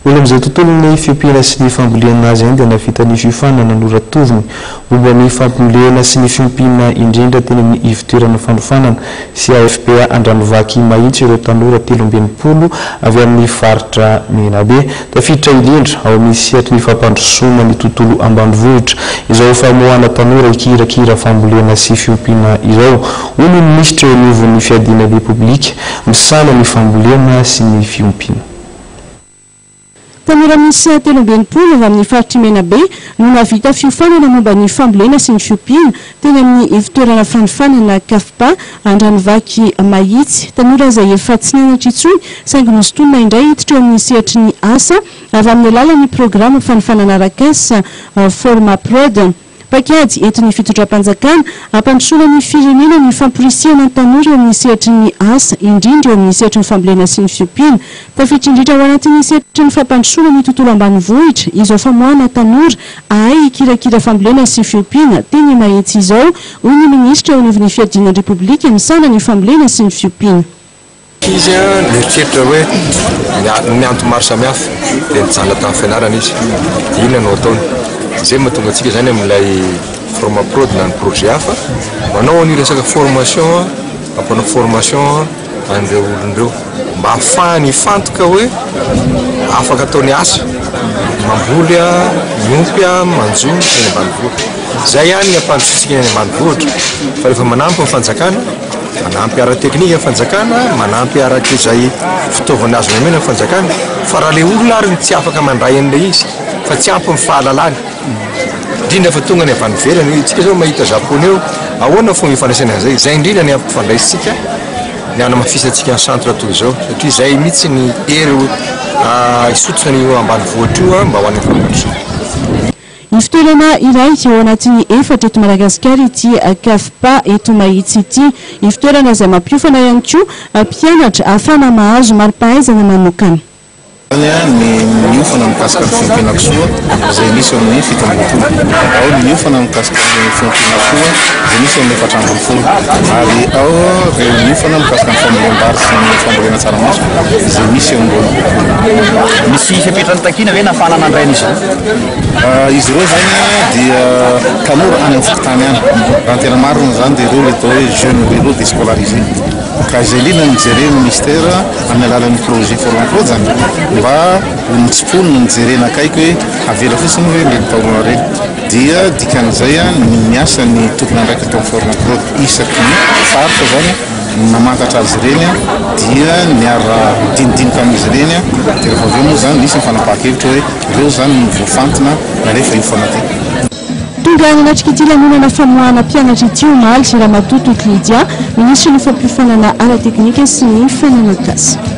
Mbola amin'izay tontolon'ny fiompiana sy ny fambolena azy ihany dia nahavita ny fiofanana noratoviny momba ny fampimolehana sy ny fiompiana indrindra teny amin'ny ivotoerana fanofanana sy AFPA Andranovaky Mahitsy ireo tanora telo amby enimpolo avy amin'ny faritra Menabe tafiditra indrindra ao amin'ny sehatry ny fampandrosoana ny tontolo ambanivohitra izao famoahana tanora hikirakira fambolena sy fiompiana izao, hoy ny minisitra eo anivon'ny fiadiana ny Repoblika misahana ny fambolena sy ny fiompiana. Tanora miisa telo amby enimpolo avy amin'ny faritr'i Menabe no nahavita fiofanana momba ny fambolena sy ny fiompiana teny amin'ny ivontoerana fanofanana CAFPA Andranovaky Mahitsy. Tanora izay efa tsy nianatra intsony saingy nosintonina indray hiditra eo amin'ny sehatry ny asa avy amin'ny alalan'ny programa fanofanana Rakas Formaprod. Paikady entin'ny fitondram-panjakana hampandrosoana ny firenena ny famporisihana ny tanora eo amin'ny sehatry ny asa, indrindra eo amin'ny sehatry ny fambolena sy ny fiompiana. Tafiditra indrindra ao anatin'ny sehatry ny fampandrosoana ny tontolo ambanivohitra izao famoahana tanora hahay hikirakira fambolena sy fiompiana teny Mahitsy izao, hoy ny minisitra eo anivon'ny Fiadiana ny Repoblika misahana ny Fambolena sy ny Fiompiana. Izy nieritreritra hoe ny antony maro samihafa dia nijanona tamin'ny fianarana izy. Dia inona no ataony? Izay no mahatonga antsika izany amin'ilay Formaprod na ny projet hafa, manao an'io resaka formation, mampanao formation an'ireo olona ireo mba hahafahany hifantoka hoe afaka atao ny asa, mamboly, miompy, manjono eny ambanivohitra. Izay ihany no ampandrosoantsika eny ambanivohitra fa rehefa manampy ny fanjakana. Manampy ara-teknika ny fanjakana, manampy araka izay fitaovana azony omena ny fanjakana, fa raha ilay olona ary no tsy afaka mandray an'ilay izy, fa tsy ampy ny fahalalany, indrindra fa tonga any avy any ivelany, hoe itsika izao mahita Japoney eo, ahoana ny fomba ifandraisany an'izay? Izay indrindra ny ampifandraisintsika, ny hanamafisantsika ny centre toy izao, satria izay mihitsy ny hery hisotro an'io ambanivohitra io mba ho any an-kampandrosoana. Ivo-toerana iray ao anatin'ny efatra eto Madagasikara ity Cafpa eto Mahitsy ity. Ivo-toerana izay mampiofana ihany koa mpianatra ahafahana mahazo mari-pahaizana manokana. Izany ny miofana mikasika ny fiompin'Akosoa izay misy eo amin'ny fito ambin'ny folo. Ao ny miofana mikasika ny fiompin'Akosoa izay misy eo amin'ny efatra ambin'ny folo. Ary ao ireo miofana mikasika ny fambolem-bary sy ny fambolena tsaramaso izay misy eo amin'ny roa ambin'ny folo. Misy fepetra nitakiana ve nahafahana nandray an'izy ireo? Izy ireo izany dia tanora any amin'ny fokontany any. Raha ny tena marina izany dia ireo ilay atao hoe jeunes ruraux descolarisés. Ka izay indrindra no jerena ny Minisitera amin'ny alalan'ny projet For L'Emploi izany mba ho notsiponina, nojerena akaiky hoe avela fotsiny ve ireny taolana ireny. Dia dikan'izay ny miasa ny tompon'andraikitra tao amin'ny For L'Emploi isaky ny faritra izany. Ny namantatra azy ireny dia niara-nidinidinika amin'izy ireny dia rehefa avy eo moa izany nisy ny fanapahan-kevitra hoe ireo izany no voafantina rehefa io foana ity. Tonga nanatrika ity lanonana famoahana mpianatra ity omaly Ramatoa Toky Lydia, Minisitry ny Fampiofanana Ara-teknika sy ny Fananak'asa.